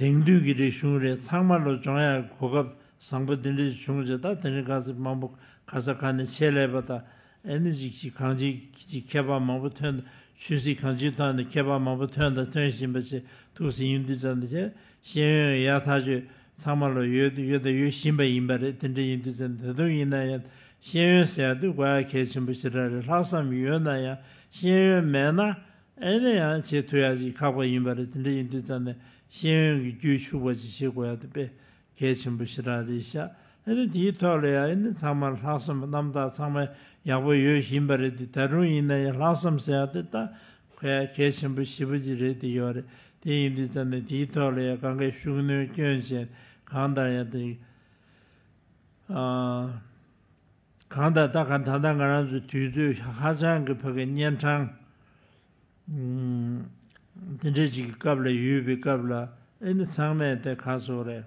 དེང་དུས་ཀྱི་རིག་གཞུང་རེ་ཚང་མ་ལོ་སྦྱོང་ཡག་གི་གོ་སྐབས་བཟང་པོ་འདི་འདྲ་ཞིག་བྱུང་རྗེས་ད་དེ་རིང་ཁ་སི་མང་པོ་ཁ་ས་ཁ་ནས་ཆེད་ལས་པ་དང་ཨེ་ནི་ཅིག་ཅིག་གང་ཅིག་ཅིག་མཁས་པ་མང་པོ་ཐོན་དང་ཆོས་སྲིད་གང་ཅིའི་ཐོག་ནས་མཁས་པ་མང་པོ་ཐོན་དང་ཐོན་བཞིན་པ་ཆེ་ཐུགས་ཟིན་ཡུན་དུས་ཙམ་དང་ཤེས་ཡོན་ཡ་ཐག་ཆོད་ཚང་མ་ལ་ཡོད་ཡོད་དང་ཡོད་བཞིན་པ་ཡིན་པ་རེད་དེ་འདྲ་ཡིན་དུས་ཙམ་ད་དུང་ཡིན་ན་ཡང་ཤེས་ཡོན་ཟེར་ཡག་དུས་གོ་ཡག་གལ་ཆེན་པོ་ཞེ་དྲག་རེད་ལྷག་བསམ་ཡོད་ན་ཡང་ཤེས་ཡོན་མེད་ན་ཨེ་ནས་ཡང་ཆེས་མཐོ་ཡག་ཅིག་ཁག་པ་ཡིན་པ་རེད་དེ་འདྲ་ཡིན་དུས་ཙམ་ནས་ཤེས་ཡོན་གྱི་རྒྱུད་ཕྱུག་པ་ཅིག་བྱེད་དགོས་ཡག་དེ་དཔེ་གལ་ཆེན་པོ་ཞེ་དྲག་རེད་ཤག་ཨེ་ནས་དེའི་ཐོག་ལ་ཡང་ཨེ་ནས་ཚང་མར་ལྷག་བསམ་རྣམ་དག་ཚང་མ་ཡག་པོ་ཡོད་བཞིན་པ་རེད་དེ་ད་དྲུང་ཡིན་ན་ཡང་ལྷག་བསམ་ཟེར་ཡག་དེ་ལྟ་གལ་གལ་ཆེན་པོ་ཞེ་པོ་ཅིག་རེད་དེ་ཡོད་རེད་དེ་ཡིན་དུས་ཙམ་ནས་དེའི་ཐོག་ལ་ཡང་གང་གཱའི་ཤུགས་གནོན་སྐྱོན་ཅན་གང་ལྟར་ཡང་དེ། གང་ལྟར་ད་ག་ད་ལྟ་ང་རང་ཚོའི་དུས་ཚོད་ཧ་ཅང་གི་ཕ་གི་གཉན་འཕྲང་འདི་འདྲའི་ཅིག་གི་སྐབས་ལ་ཡོད་པའི་སྐབས་ལ་ཨེ་ནི་ཚང་མས་དེ་ག་སོགས་རེད།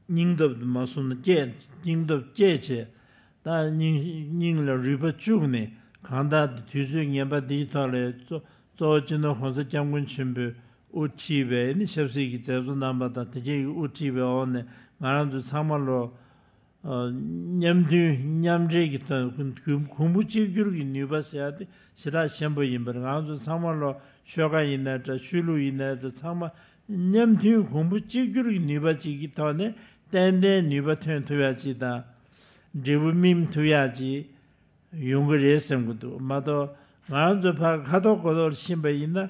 སྙིང་སྟོབས་དུ་མ་སོང་ན་སྐྱེད་སྙིང་སྟོབས་སྐྱེད་བྱས་ད་སྙིང་ལ་རུས་པ་བཅུག་ནས་གང་ལྟར་དུས་ཚོད་ངན་པ་འདིའི་ཐོག་ལས་གཙོ་བོ་སྤྱི་ནོར་གོང་ས་སྐྱབས་མགོན་ཆེན་པོས་དབུ་ཁྲིད་པའི་ཨེ་ནི་ཆབ་སྲིད་ཀྱི་མཛད་གཙོ་རྣམ་པ་དང་དེ་བཅས་ཀྱི་དབུ་ཁྲིད་པའི་འོག་ནས་ང་རང་ཚོ་ཚང་མ་ལོ། མཉམ་མཐུན་མཉམ་འབྲེལ་གྱི་དོན་གོང་བུ་གཅིག་གྱུར་གྱི་ནུས་པ་ཟེར་བ་དེ་ཞེ་དྲག་ཆེན་པོ་ཡིན་པར་ང་ཚོ་ཚང་མ་ལོ་ཤོད་ཁ་ཡིན་ནའི་འདྲ་ཆོས་ལུགས་ཡིན་ནའི་འདྲ་ཚང་མ་མཉམ་མཐུན་གོང་བུ་གཅིག་གྱུར་གྱི་ནུས་པ་གཅིག་གི་ཐོག་ནས་ཏན་ཏན་ནུས་པ་ཐོན་ཐུབ་ཡག་གཅིག་དང། འབྲས་བུ་སྨིན་ཐུབ་ཡག་གཅིག་ཡོང་གི་རེད་བསམ་གྱི་འདུག་མ་གཏོགས་ང་ཚོ་ཕར་ཁ་ཐོར་གོ་ཐོར་ཕྱིན་པ་ཡིན་ན།